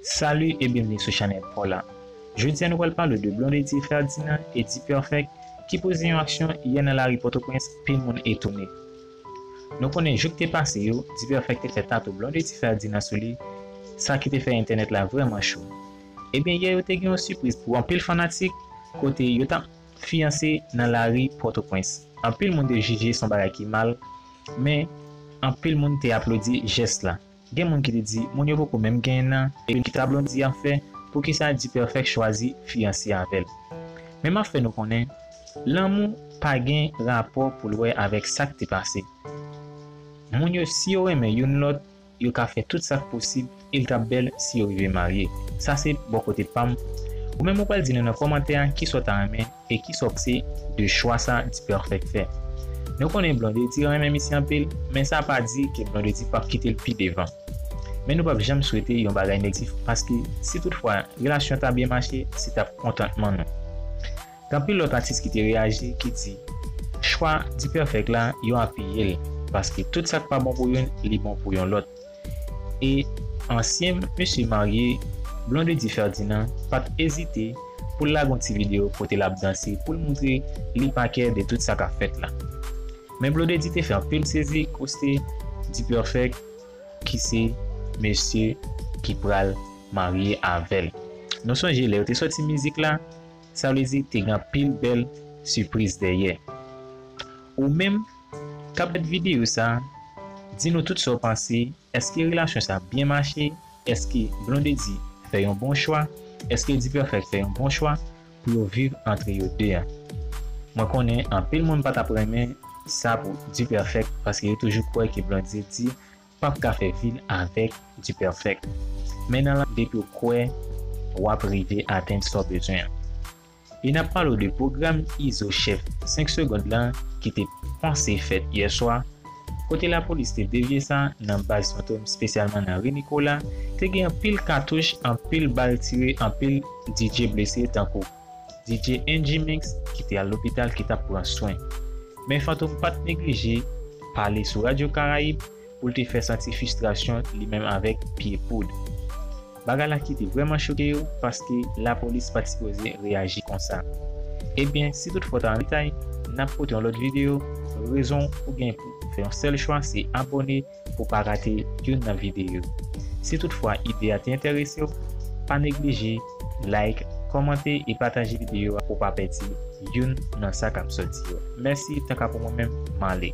Salut et bienvenue sou chanèl paw la Jodi a nou pral pale de Blondedy Ferdinand et D-Perfect ki poze yon aksyon yè nan lari Pòtoprens pil moun etone Nou konnen jou k te pase yo D-Perfect te fè tatou Blondedy Ferdinand sou li sa ki te fè entènèt la vrèman cho Ebyen yè yo te gen yon sipriz pou anpil fanatik kote yo tap fiyanse nan lari Pòtoprens anpil moun te jije son bagay ki mal men anpil moun te aplodi jès la. Gen moun ki te di moun yo poko menm genyen nan epi kisa Blondie ap fè poukisa D-perfect chwazi fiyanse avèl men map fè nou konnen lanmou pa gen rapò poul wè avèk sak te pase moun yo si yo renmen youn lòt yo ka fè tout sak posib el tap bèl si yo rive marye sa se bò kote pam ou menm ou pral di nou nan kòmantè a kisa w ta renmen E ki sòkse de chwa sa Dperfect fè? Nou konnen Blondedy renmen misye anpil, men sa pa di ke Blondedy pap kite l pi devan. Men nou pap janm swete yon bagay negtif paske si tout fwa relasyon ta byen mache se tap kontantman nou. Gen anpil lòt atis ki te reyaji ki di chwa Dperfect la yo apiye l paske tout sak pa bon pou youn li bon pou yon lòt. e ansyen mesye marye Blondedy Ferdinand pa t ezite pou l lage yon ti videyo kote l ap danse pou l montre li pa kè de tout sa k ap fèt la. Men Blondedy te fè anpil sezi koste Dperfect ki se mesye ki pral marye avè l. Nou sonje lè yo te sòti mizik la, sa vle di te gen anpil bèl sipriz dèyè. Ou menm Kap gad videyo sa Di nou tout sa w panse Eske relasyon sa byen mache Eske Blondedy fè yon bon chwa Eske Dperfect fè yon bon chwa Pou yo viv antre yo 2 an Mwen konnen anpil moun pa tap renmen sa pou Dperfect paske yo toujou kwè ke Blondedy pap ka fè vil avèk Dperfect men nan la depiw kwè wap rive atenn sa w bezwen an. E nap pale w de pwogram Izo Chef 5 Segond lan ki te panse fèt yè swa, kote lapolis te devye sa nan baz Fantom spesyalman nan Ri Nikola, te gen anpil katouch, anpil bal tire, anpil DJ blese tankou DJ NGMix ki te al lopital ki tap pran swen. Men Fantom pat neglije pale sou Radio Caraïbe, pou l te fè santi fistrasyon li menm avèk pye poud. Bagay la ki te vrèman choke yo paske lapolis pat sipoze reyaji konsa. Ebyen si tout fò ta anretay nap pote yon lòt video, rezon ou gen pou fè yon sèl chwa se abòne pou pa rate youn nan video yo. Si tout fwa ide a te entèrese w pa neglije like, kòmante e pataje video a pou pa pèdi youn nan sa kap sòti yo. Mèsi tanka pou mwen menm male.